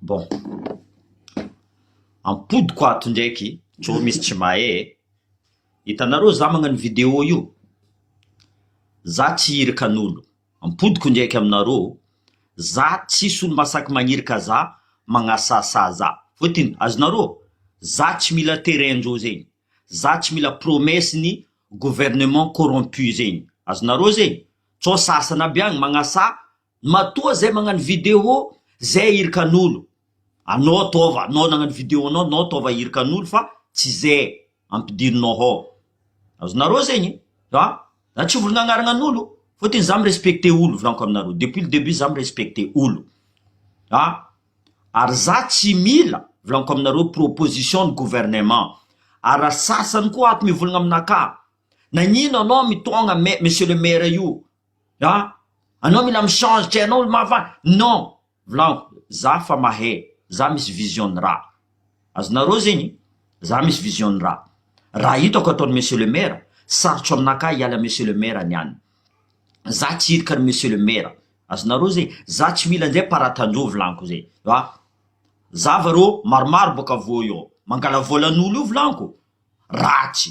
Bon. Ampodiko ato ndraiky tsy ho misy tsy mahay e. Hitanareo za magnano vidéo io, za tsy hirikan'olo. Ampodiko ndraiky aminareo, za tsisy olo mahasaky magnirika za, magnasahasaha za. Fôtony azonareo, za tsy mila terrain-dreo zegny, za tsy mila promesse-n'ny gouvernement corrompu zegny. Azonareo zegny? Sao sasany aby agny magnasaha Matoa zay magnano video zay ahirikan'olo anao ataova anao nagnano video anao anao ataova ahirikan'olo fa tsy zay ampidirinao hao azonareo zegny a za tsy volagna agnaragnan'olo fôtony za mi-respecter olo volaniko aminareo depuis le debut za mi-respecter olo a ary za tsy mila volaniko aminareo proposition ny gouvernement ary raha sasany koa ato mivolagna aminakahy nagnino anao mitôgna mai- monsieur le maire io a anao mila mi change tsy hainao ny maha fa non volagno za fa mahay za misy vision ny raha azonareo zegny za misy vision ny raha raha hitako ataony monsieur le maire sarotro aminakahy hiala monsieur le maire niany za tsy hirika ny monsieur le maire azonareo zegny za tsy mila njay paratanjo volagniko zay a za va rô maromaro bôka voa eo mangala vôlan'olo io volagniko ratsy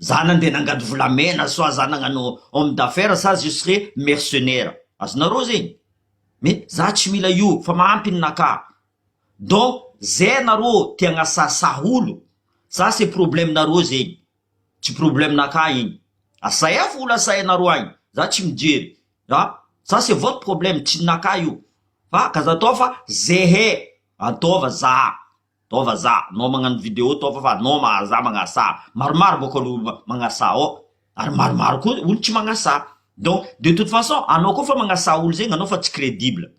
Zanany dia nangady volamena soit zanagano homme d'affaires sa juste hoe mercenaire azonareo zegny mais za tsy mila io fa mahampy ny naka donc zay nareo te agnasahasaha olo za c'est problème nareo zegny tsy problème naka igny asahefo olo asahinareo agny za tsy mijery ah ça c'est votre problème tsy ny naka io fa k'aza atao fa zehe ataova za. Nao vazaha, nao magnano video tao fa fa nao mahazaha magnasaha. Maromaro bôka alo olo magnasaha ao ary maromaro koa olo tsy magnasaha. Donc de toute façon anao koa fa magnasaha olo zegny anao fa tsy credible.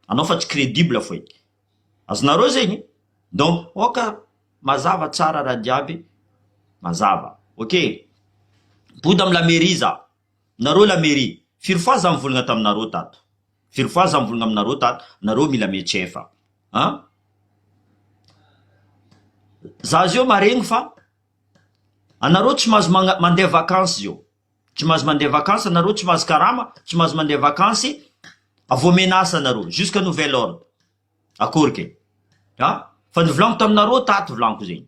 Anao fa tsy credible foe. Azonareo zegny? Donc ôka mazava tsara raha jiaby mazava. Ok. Mipody am la mairie za. Nareo la mairie firy fois za mivolagna taminareo tato firy fois za mivolagna aminareo tato nareo mila mietsefa a za zeo maregny fa anareo tsy mahazo magna- mandeha vakansy zeo tsy mahazo mandeha vakansy anareo tsy mahazo karama tsy mahazo mandeha vakansy avy omena asa anareo jusqu'à nouvel ordre akory ke a fa nivolagno taminareo tato volagno ko zegny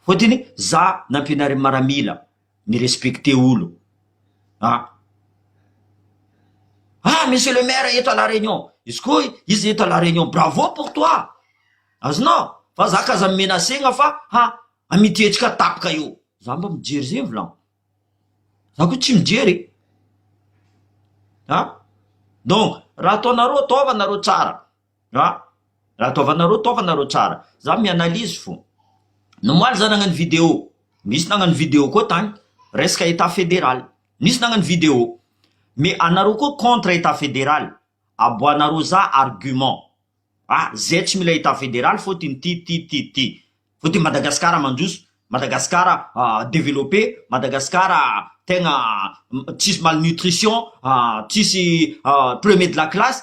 Fotony za nampianarin'i maramila mi respecte olo a. Ah monsieur le maire eto à la réunion izy ko iza eto à la réunion bravo pour toi azonao fa za k'aza mi menacena fa ha amity hetsika tapaka io za mba mijery zegny vlan za ko tsy mijery e a donc raha ataonareo ataova nareo tsara. Ra, raha taovanareo, taovanareo tsara. Za mi-analyse fo. Nomaly za nagnano video. Misy nagnano video koa tagny. Resaka Etat Federal. Nisy nagnano video. Mais anareo koa contre Etat Federal. Aboahanareo za argument. A, zay tsy mila Etat Federal fô ty ty ty ty ty. Fô ty Madagasikara mandroso. Madagasikara developpe. Madagasikara tegna tsisy malnutrition, tsisy premier de la classe.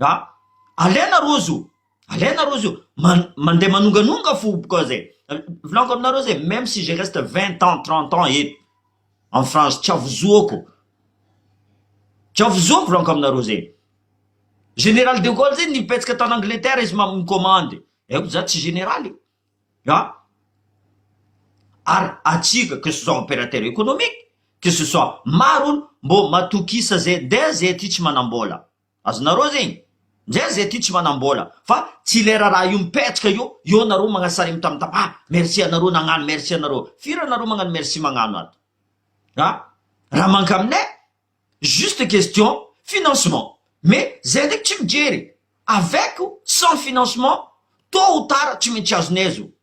A! Alaina rojo, alaina rojo, man- mandeha manonganonga fo bouka zay. Volaniko aminareo zay, même si je reste vingt ans, trente ans eto en France, tsy avozoako, tsy avozoako volaniko aminareo zay. Général de Gaulle zay nipetsika tany Angleterre izy ma- mi-commande, haiko za tsy général e! A! ary antsika que ce soit opérateur économique, que ce soit maro olo, mbô matokisa zay, ndeha zay aty tsy manam-bôla. Azonareo zegny? Ndraiky zay ty tsy manambola fa tsy le raraha io mipetraka io eo nareo magnano sary mitamtam ah merci anareo nagnano merci anareo firy anareo magnano merci magnano ato ah raha mankaminay juste question financement mais zay ndraiky tsy mijery avec ou sans financement tot ou tard tsy maintsy azonay zao.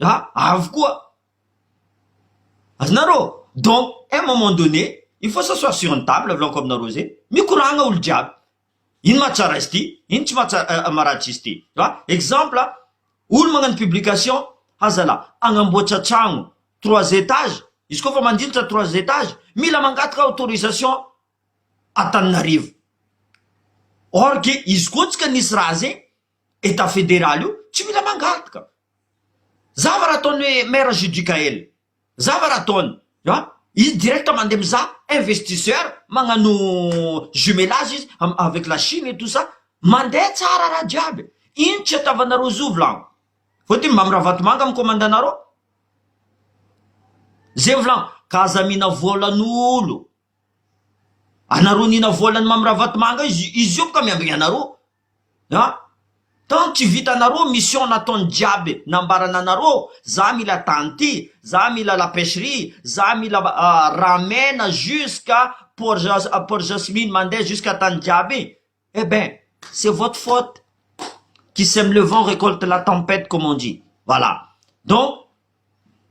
Ah avy koa. Azonareo? Donc un moment donné il faut s'asseoir sur une table avolako aminareo zay, mikoragna olo jiaby, ino mahatsara izy ty, ino tsy mahatsara maharatsy izy ty, fa exemple olo magnano publication ha zala hagnamboatra tragno trois étages, izy koa fa mandilitra trois étages mila mangataka autorisation Antananarivo, or que izy koa tsika nisy raha zay Etat federal io tsy mila mangarotka zava raha ataony hoe maire judicael zava raha ataony an izy direct mandeha mizaha investisseur magnano jumelage izy avec la chine et tout ça mandeha tsara raha jiaby ino tsy atavanareo zovy lan vao ty mba miravatomanga am komandanareo zevy lan ka aza mihina volan'olo Anareo nina vola an'i mamy ravatomanga io izy io boka miambigny anareo an! tant tsy vitanareo mission nataony jiaby nambarany anareo za mila tany ty za mila la pecherie za mila raha mena jusqu'à port jasmine mandeha jusqu'à tany jiaby Eh ben! C'est votre faute! Qui sème le vent récolte la tempête comme on dit! Voilà! Donc,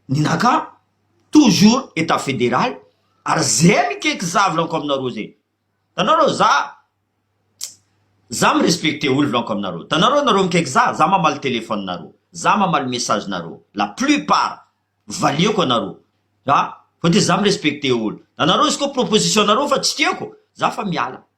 ny naka toujours etat federal ary zay mikaiky za volaniko aminareo zay! Hitanareo za za mi respecter olo volaniko aminareo! Hitanareo nareo mikaiky za, za mamaly téléphone nareo, za mamaly message nareo, la plus part valiako anareo! Fa de za mi respecter olo! Hitanareo izy koa proposition nareo fa tsy tiako, za fa miala!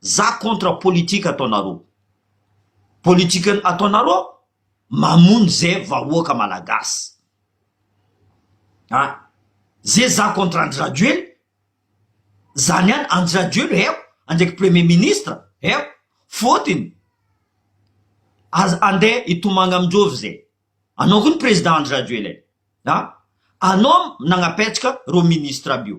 Za contre politique ataonareo. Politique ataonareo mamono ze vahoaka malagasy. An! Ze za contre Andry Rajoely zany an Andry Rajoely heo andraiky premier ministre heo fotiny az ande itomagna amindrovy ze anao ko ny president Andry Rajoely e! An! Anao nagnapetsaka reo ministre aby io.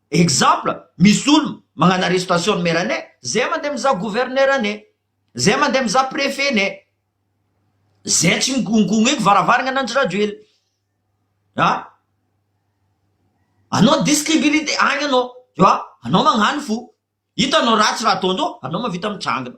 Exemple, misy olona magnano arrestation ny maire ney, zay mandeha mizaha gouverneur ney, zay mandeha mizaha prefet ney, zay tsy mikonkoneko varavaragna an'Andry Rajoelina. Ha? Anao distribilité agny anao, tu vois, anao magnano fo, hitanao ratsy raha ataondreo, anao mahavita mitrangina.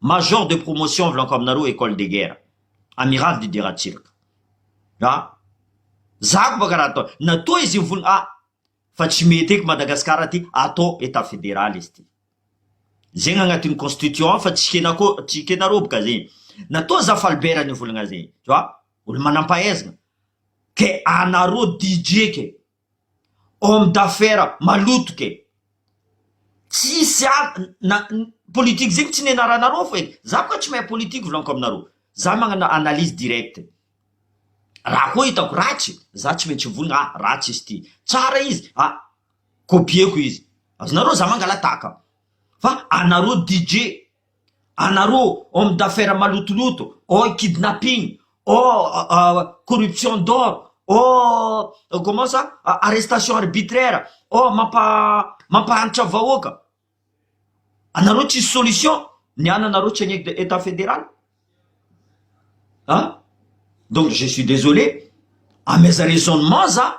Major de promotion avy lanko aminareo Ecole de guerre, Amiral Didier Ratsiraka. A! Za ko baka raha atao, na toa izy mivony A! Fa tsy mety eky Madagascar aty, atao Etat Federal izy ty. Zegny agnatin'ny constitution fa tsy kenako, tsy kenareo baka zegny. Na toa za Falbert nivolagna zegny, tu vois, olo manampahaizagna. Ke anareo DJ ke. homme d'affaires maloto ke tsisy na politique zegny tsy nianaranareo fô edy za koa tsy mahay politique volaniko aminareo za magnano analyse directe raha koa hitako ratsy za tsy maintsy mivonona ah ratsy izy ty tsara izy ah copier-ko izy azonareo za mangalatahaka fa anareo DJ. anareo homme d'affaires malotoloto oh kidnapping oh corruption d'or oh comment ça arrestation arbitraire oh mampahantra vahoaka anareo tsisy solution ny ananareo tsy any etat federal ah donc je suis desolé ameza raisonnement za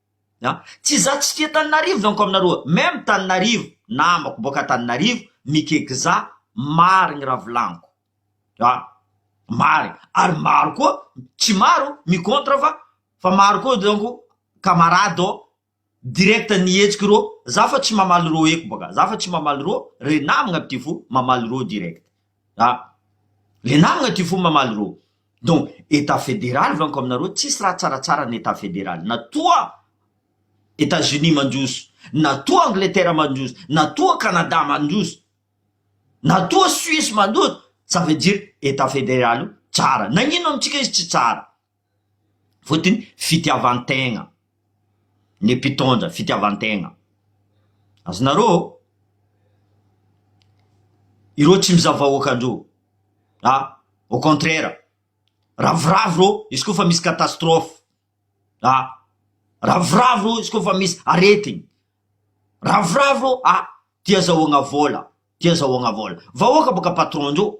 An! Tsy izaho tsy tia Taninarivo donko aminareo a! Même Taninarivo, namako boaka Taninarivo, Mikekza, marigny raha volaniko. An! Marigny. Ary maro koa, tsy maro, mi contre fa, fa maro koa donko camarade ô, direct nihetsiko rô, za fa tsy mamaly rô eko boaka, za fa tsy mamaly rô, re namagna pitivo, mamaly rô direct. Ah! Le namagna ty fo mamaly rô! Donc Etat federaly vanko aminareo tsisy raha tsaratsara ny Etat federaly na toa Etats Unis mandroso, na toa Angleterre mandroso, na toa Canada mandroso, na toa Suisse mandroso, ça veut dire Etat federaly io tsara. Nagnino amintsika izy tsy tsara? Fotony fitiavantegna ny mpitondra, fitiavantegna. Azonareo ô? Ireo tsy mizaha vahoaka ndreo a, au contraire ravoravo reo izy koa fa misy catastrophe a, ravoravo reo izy koa fa misy aretigny, ravoravo reo a, tia zahoagna vôla, tia zahoagna vôla, vahoaka bôka patron ndreo.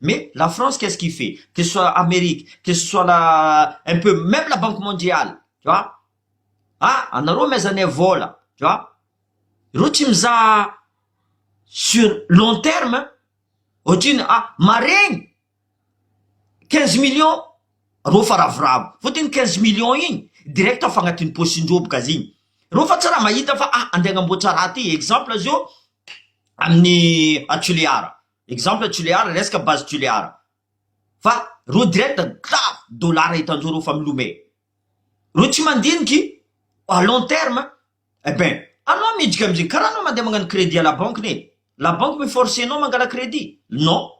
Mais la France qu'est-ce qui fait? Que ce soit Amerique, que ce soit la un peu même la banque mondiale tu vois? Ha anareo amezanay vola tu vois? Ireo tsy mizaha sur long terme ohatrino ah maregny quinze millions reo fa ravoravo fô de ny quinze millions igny direct afa agnatin'ny posin-dreo boka zigny reo fa tsy raha mahita fa ah andeha agnamboatra raha ty exemple zao amin'ny a Toliara. Exemple Tulear resaka base Tulear fa reo direct grave dollar hitanjoro efa milome reo tsy mandiniky à long terme eh ben anao midriky amzay karaha anao mandeha magnano crédit à la banque ne la banque mi force anao mangala crédit non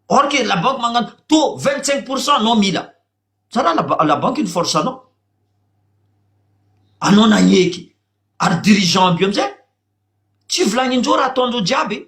or que la banque magnano taux vingt cinq pour cent anao mila za raha la ba- la banque ny force anao anao nagneky ary dirigeant aby io amzay tsy volagnindreo raha ataondreo jiaby.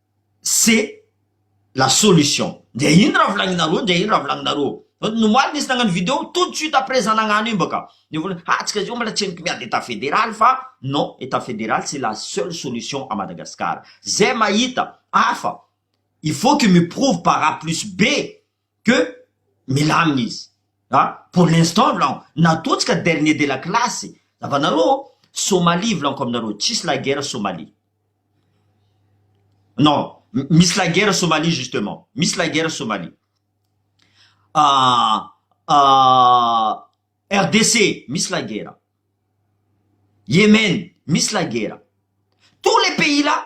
c'est la solution dia ino raha volagninareo dia ino raha volagninareo fa ny omaly nisy nagnano video tout de suite après za nagnano io mbaka dia volagny ha tsika zao mbola tsy henoko miady état fédéral fa non état fédéral c'est la seule solution à Madagascar zay mahita hafa il faut que mi prouve par a plus b que milamina izy a pour l'instant vlan natotsika dernier de la classe zavanareo Somalie vlaniko aminareo tsisy la guerre Somalie non misy la guerre Somalie justement misy la guerre Somalie ah ah RDC misy la guerre Yemen misy la guerre tous les pays là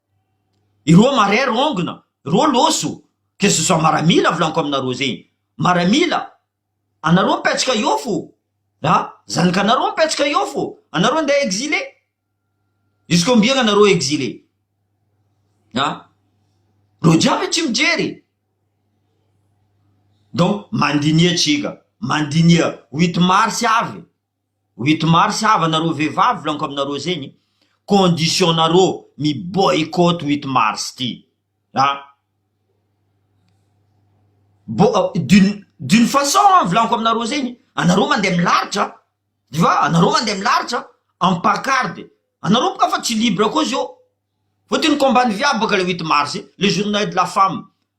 Ireo marère ongona, ireo loso, que ce soit maramila volaniko aminareo zegny, maramila, anareo mipetsaka eo fô a, zanakanareo mipetsaka eo fô, anareo andeha exilé, jusk'ombiagna anareo exilé a, reo jiaby tsy mijery e, donc mandiniha tsika, mandiniha huit mars avy. Huit mars hava nareo vevavy volaniko aminareo zegny condition nareo mi boycott huit mars ty a bo d'une d'une façon an volaniko aminareo zegny anareo mande milaritra de fa anareo mande milaritra am pacarde anareo boka fa tsy libre ko zio fotony combat ny viavy boka le huit mars le journee de la femme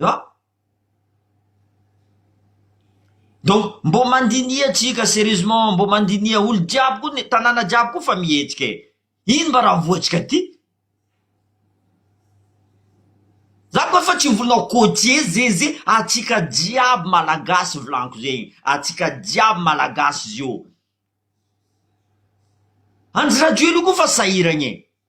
An? Donc mbô mandiniha tsika serieusement, mbô mandiniha olo jiaby koa ny tanàna jiaby koa fa mihetsika e! Ino mba raha voantsika ty? Za koa efa tsy volao côtier zeze atsika jiaby malagasy volaniko zegny atsika jiaby malagasy zio. Andry Rajoelina koa fa sahiragna e!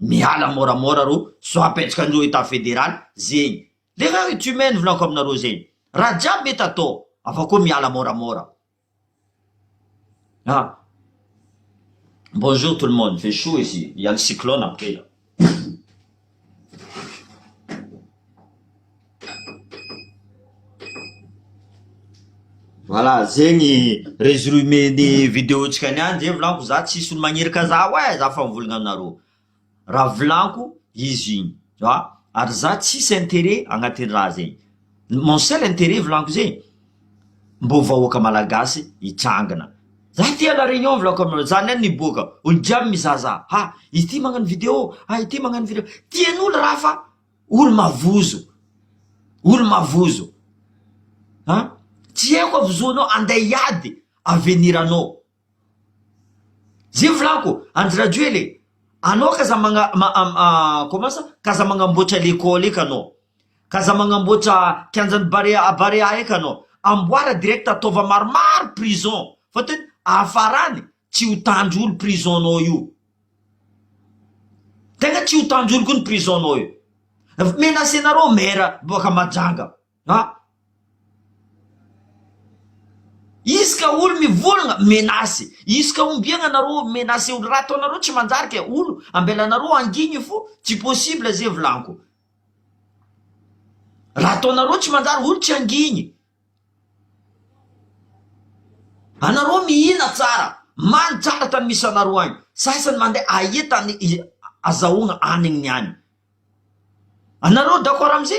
Miala moramora ro soapetsaka andreo etat federal zegny l'erreur est humaine volako aminareo zegny raha jiaby mety atao afa koa miala moramora ah bonjour tout le monde fait chaud ici il ya le cyclone après là. Voilà zegny résumé ny vidéo ntsika niany zay volagno za tsisy olo magnerika za oe za efa mivolagna aminareo raha volagno izy igny ary za tsisy interet agnatin'ny raha zegny. Mon seul intérêt volagno zay, mbô vahoaka malagasy hitrangana. Za tia la réunion volako aminareo, za nen miboaka, olo jiaby mizaza, ha izy ty magnano video, ha ity magnano video, tianolo raha fa olo mavozo, olo mavozo, ha tsy eo koa vozoanao, andeh hiady avenir anao. Zay volako, Andry Rajoel e, anao k'aza magna comment ça, k'aza magnamboatra l'école eka anao, k'aza magnamboatra kianjan'ny barea à barea eka anao, amboara direct ataova maromaro prison fa tena afarany tsy ho tanjolo prison nao io, tena tsy ho tanjolo koa ny prison nao io, menacé nareo maire boaka majanga. Ha! Izy ka olo mivolagna, menace, izy ka ombiagna narô menace olo raha ataonareo tsy manjary ke olo ambelanareo handigny fo tsy possible ze vlanko raha ataonareo tsy manjary olo tsy handigny anareo mihina tsara many tsara tany misy anareo agny sasany mandeha aia tany azahoagna hanigny any anareo d'accord amze.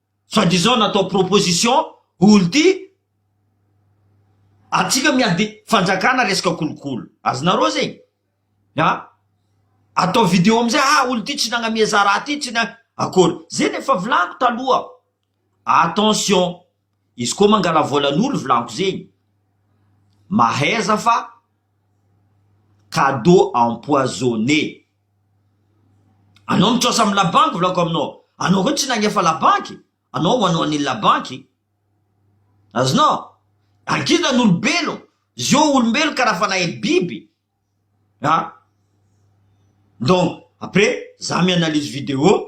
soit disant natao proposition olo ty atsika miady fanjakana resaka kolokolo azonareo zegny a atao video amizay ah olo ty tsy nagnamia za raha ty tsy na akory zegny efa volagno taloha attention izy koa mangala volan'olo volagno zegny mahaiza fa cadeau empoisonné Anao mitrasa amin'ny la banque volako aminao anao koa tsy nagnefa la banque anao ho anao an'iny la banque azonao angina ny olombelogno zio olombelogno karaha fanahy biby a donc après za mi-analyse video.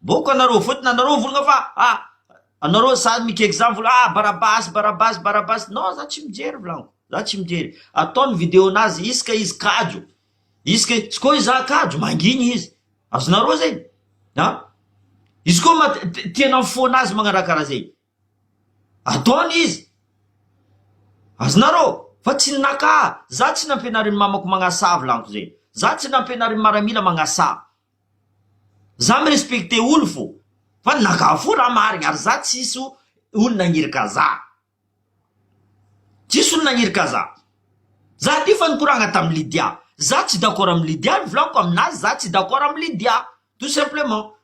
Boko anareo fotony anareo mivolagna fa a anareo zany mikeky zany mivolagna a barabasy barabasy barabasy non za tsy mijery volagniko za tsy mijery atao ny video nazy izy ka izy kajo izy ka izy koa iza kajo mangigny izy azonareo zegny a izy koa ma te te te tianao mifoha anazy magnaraha karaha zegny Ataony izy. Azonareo? Fa tsy ny naka ahy. Za tsy nampianarin'ny mamako magnasaha vilaniko zegny. Za tsy nampianarin'ny maramila magnasaha. Za mi-respecter olo fô. Fa ny naka ahy fo raha marigny ary za tsisy olo nagniraka za. Tsisy olo nagniraka za. Za ty fa nikoragna tamin'i Lydia. Za tsy d'accord amin'i Lydia, nivolaniko aminazy za tsy d'accord amin'i Lydia. Tout simplement.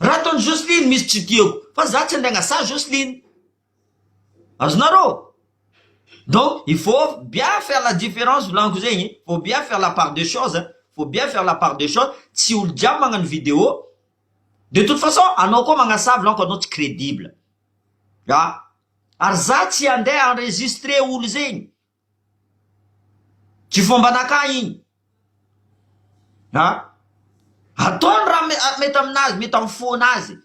Raha ataon'i Jocelyne misy tsy tiako fa za tsy handainga sazy Jocelyne. Azonareo? Donc il faut bien faire la différence volaniko zegny, il faut bien faire la part de chose, il faut bien faire la part de chose, tsy olo jiaby magnano video, de toute façon anao koa magnasaha volaniko anao tsy credible, ary za tsy handeha enregistrer olo zegny. Tsy fomba anakahy iny an! Ataony raha mety aminazy, mety amin'ny fona azy e!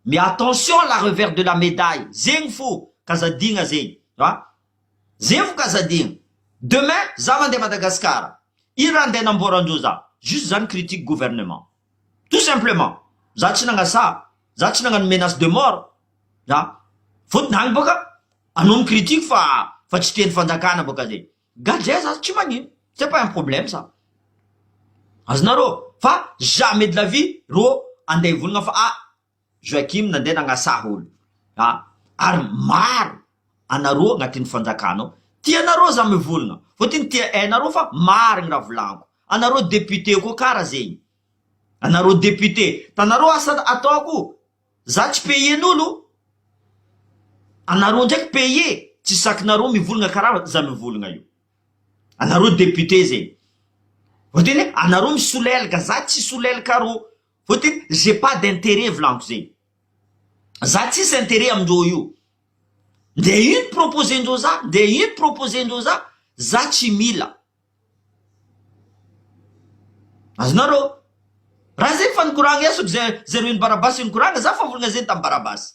Mais attention la revers de la medaille, zegny fo kazadigna zegny an! zegny fo kazadigna, demain za mandeha Madagascar, ino raha andeha hanamboaran-dreo za? juste za ni-critique gouvernement. tout simplement za tsy nagnasaha za tsy nagnano menace de mort za fotony agny boka anao mi critique fa fa tsy tiany fanjakana boka zay gadra za tsy magnino c'est pas un problème ça azonareo fa jamais de la vie ro ande hivolagna fa ah Joachim nandeha nagnasaha olo a ary maro anareo agnatin'ny fanjakana ao tia anareo za mivolagna fô ty ny tia enareo fa marigny raha volagniko anareo député koa kara zegny anareo député tanareo asa ataoko za tsy payer n'olo anareo ndraiky payer tsy sakinareo mivolagna kara za mivolagna io anareo député zegny fô ty ne anareo misolelaka za tsy solelaka arô. Fotiny j'ai pas d'interet volanko zegny. Za tsisy interet amindreo io. Nde ino proposer-ndreo za, nde ino proposer-ndreo za, za tsy mila. Azonareo? Raha zegny fa nikoragna iasako zay zareo nibarabasy nikoragna, za fa volagna zegny tam barabasy.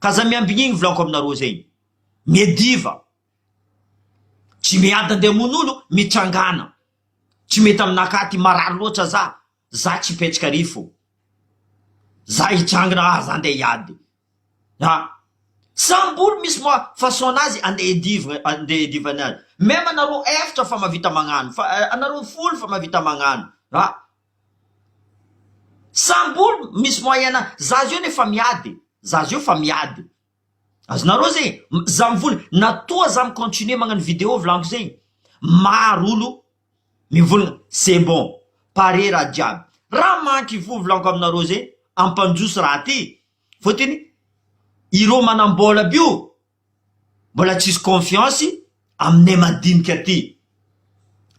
K'aza miambigny igny volako aminareo zegny. Mie diva. Tsy miady andeha hamono olo, mitrangana. Tsy mety aminakahy ty, marary loatra za. Za tsy hipetraka ary fô. Za hitrangana ah za andeha hiady. A! Samy olo misy ma façon anazy andeha hidivgna, andeha hidivany azy. Même anareo efatra fa mahavita magnano, fa anareo folo fa mahavita magnano. A! Saribol misy moyen a za zao anie efa miady e za zao efa miady e azonareo zay e za mivola na toa za mi continuer magnano video vilaniko zay maro olo mivolagna c'est bon pare raha jiaby raha manky voa vilaniko aminareo zay ampandroso raha ty fotony ireo manambola aby io Mbola tsisy confiance aminay madinika ty.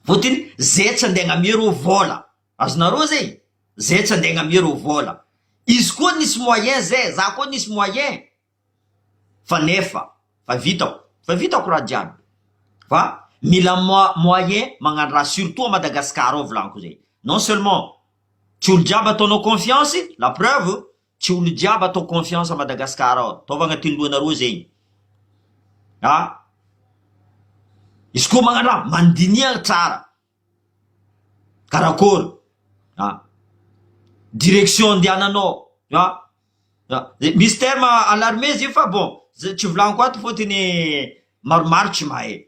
Votiny zay tsy andeha agnamia reo vola. Azonareo zay? Zay tsy andeha agnamia reo vola. Izy koa nisy moyen zay, za koa nisy moyen fa nefa fa vitako, fa vitako raha jiaby. Fa mila moyen magnano raha surtout à Madagascar ao volagnikozay. Non seulement tsy olo jiaby ataonao confiance, la preuve, Tsy olo jiaby atao confiance à Madagascar ao, ataovy agnatin'ny lohanareo zegny a! Izy koa magnano raha mandinihagna tsara karakôry a! Direction andiananao a! Misy terme alarme izy io fa bon tsy volagniko ato fôtony maromaro tsy mahay.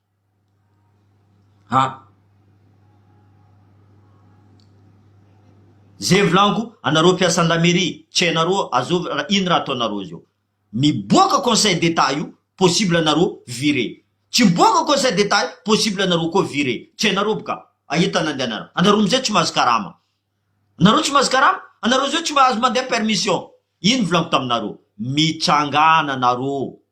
Ha! Ze volagnico anareo mpiasan'ny la mairie tsy hainareo azovy raha ino raha ataonareo zao miboaka conseil d'etat io possible anareo viré tsy miboaka conseil d'etat io possible anareo koa viré tsy hainareo boka aia tany andehanareo anareo amizay tsy mahazo karama anareo tsy mahazo karama anareo zao tsy mahazo mandeha permission ino volagnico taminareo mitsangana anareo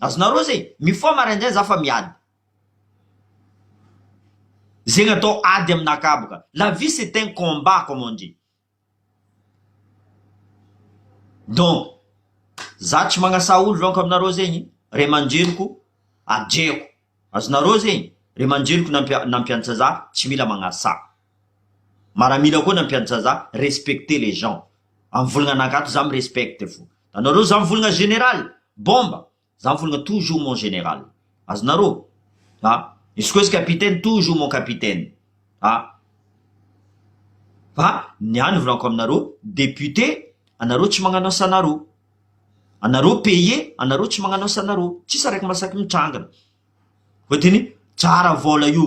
Azonareo zay, mifoha maraindray za fa miady. Zegny atao ady aminakahy boka. La vie c'est un combat comme on dit. Donc, za tsy magnasà olo donc aminareo zegny, ray aman-dreniko adreko. Azonareo zegny, ray aman-dreniko nampianatra za tsy mila magnasà. maramila koa ny ampiantsazà respecter les gens am volagna anankato za mi respecte fo anareo za mivolagna général bomba za mivolagna toujours mon général azonareo a izy koa izy capitaine toujours mon capitaine a fa ny ahy ny volagako aminareo député anareo tsy magnano asanareo anareo payer anareo tsy magnano asanareo tsisy araiky masaky mitrangana fotony tsara vôla io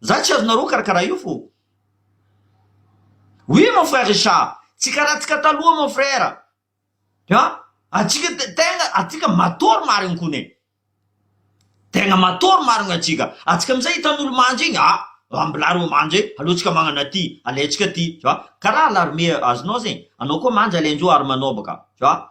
Za tsy azonareo karakara io fô. Oui mon frère Richard, tsy karaha antsika taloha mon frère an! Antsika te tegna antsika matôry marigny kony e! Tegna matôry marigny antsika, antsika amizay hitan'olo manja igny ah! Ambilà reo manja e! Aleontsika magnana ty, alaintsika ty, tu vois, karaha à l'armée azonao zegny, anao koa manja alaindreo ary manao bôka, tu vois.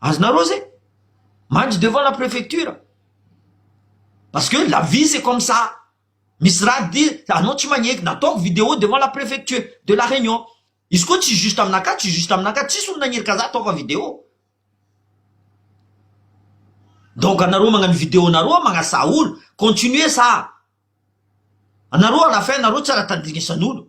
Azonareo zay? Mandry devant la préfecture parce que la vie c'est comme ça misy raha dia anao tsy magneky nataoko video devant la préfecture de la réunion izy koa tsy juste aminakahy tsy juste aminakahy tsisy olo nagnery ka za ataoko video donc anareo magnano video nareo a magnasaha olo continuer sa anareo à la fin nareo tsy raha tandinisan'olo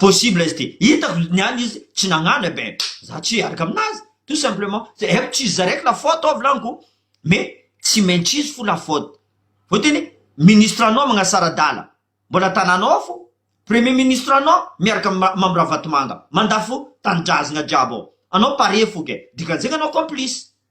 possible izy ity, hitako ny an'ny izy tsy nagnano eh ben za tsy hiaraka aminazy tout simplement zay haiko tsy izy zaraiky la faute ao volagniku mais tsy maintsy izy fo la faute vao tena hoe ministre anao magnasara adala mbola tananao ao fo premier ministre anao miaraka am mamy ravatomanga mandafo tanindrazagna jiaby ao anao pare fo ke dikan'izegny anao complice.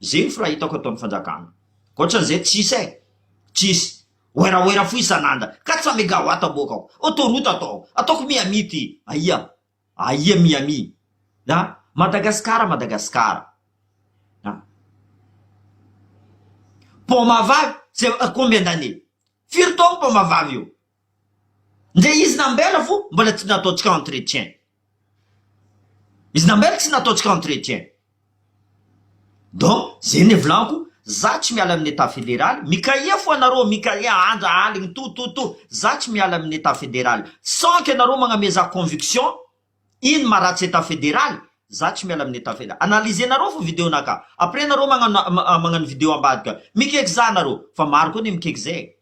Zefo raha hitako eto am fanjakana. Ankoatran'izay tsisy e! Tsisy. Oeraoera fohy isan'andra. Quatre-cents megawatts aboakako. Autoroute ataoko. Ataoko Miami ity. Aia. Aia Miami. A! Madagasikara Madagasikara. A! Paoma vavy, c'est combien d'années? Firy taogno paoma vavy io? Nge izy nambela fo mbola tsy nataontsika entretien. Izy nambela tsy nataontsika entretien. Donc ze ne volako za tsy miala amin'ny etat federaly, mikahiya fo anareo mikahiya andra aligny tout tout tout za tsy miala amin'ny etat federaly sans que anareo magname za conviction ino maharatsy etat federaly za tsy miala amin'ny etat federaly. Analysenareo fo video naka après nareo magnano magnano video ambadika. Mikeky za nareo fa maro koa ne mikeky ze e.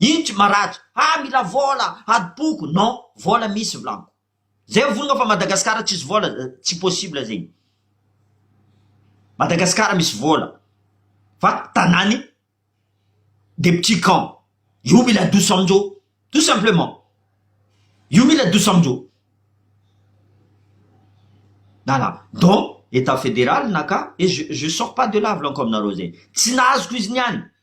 Ino tsy maratra? Ah mila vola, adim-poko, non, vola misy volaniko. Zay mivolagna fa Madagascar tsisy vola tsy possible zegny. Madagascar misy vola fa tanany des petits camps. Io mila adoso aminjô tout simplement. Io mila adoso aminjô. Voilà, donc Etat Federal naka et je je sors pas de là volaniko aminareo zegny. Tsy nahazo ko izy niany.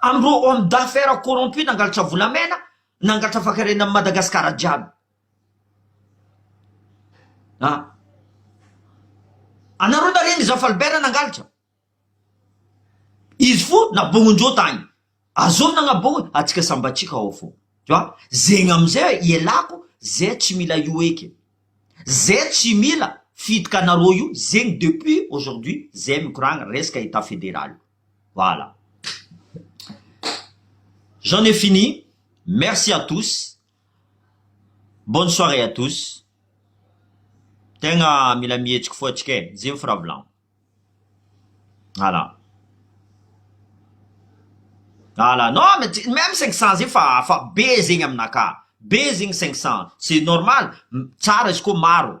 Amin'ireo homme d'affaires corrompus nangalatra volamena, nangalatra fankarena an'i Madagasikara jiaby. Ah. Anareo nareo ny Zafalbert nangalatra. Izy fo nabongon-dreo tagny. Azovy nagnabogny, atsika sambatsika ao fo. Tu vois? Zegny am'zay ialako, zay tsy mila io eky. Zay tsy mila fiditry anareo io, zegny depuis aujourd'hui, zay mikoragna resaka Etat Fédéral io. Voilà. J'en ai fini. Merci à tous. Bonne soirée à tous. Tegna mila mihetsiky fo atsika e. Zay ny firavolagno. Voilà. Voilà. Non, mais tu- même 500 zegny fa fa be zegny aminakahy. Be zegny 500. C'est normal. M- Tsara izy koa maro.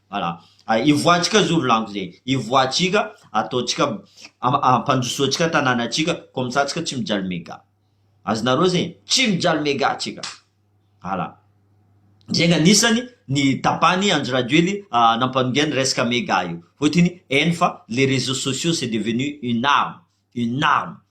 Voilà, hivoahantsika zoro lango zay, hivoahantsika, ataontsika, ampandrosoantsika tanànantsika, comme ça tsika tsy mijaly mega. Azonareo zay? Tsy mijaly mega tsika. Voilà. Zay ny anisany ny tapany Andry Rajoely nampanongia ny resaka mega io. Fotony hainy fa les réseaux sociaux c'est devenu une arme, une arme.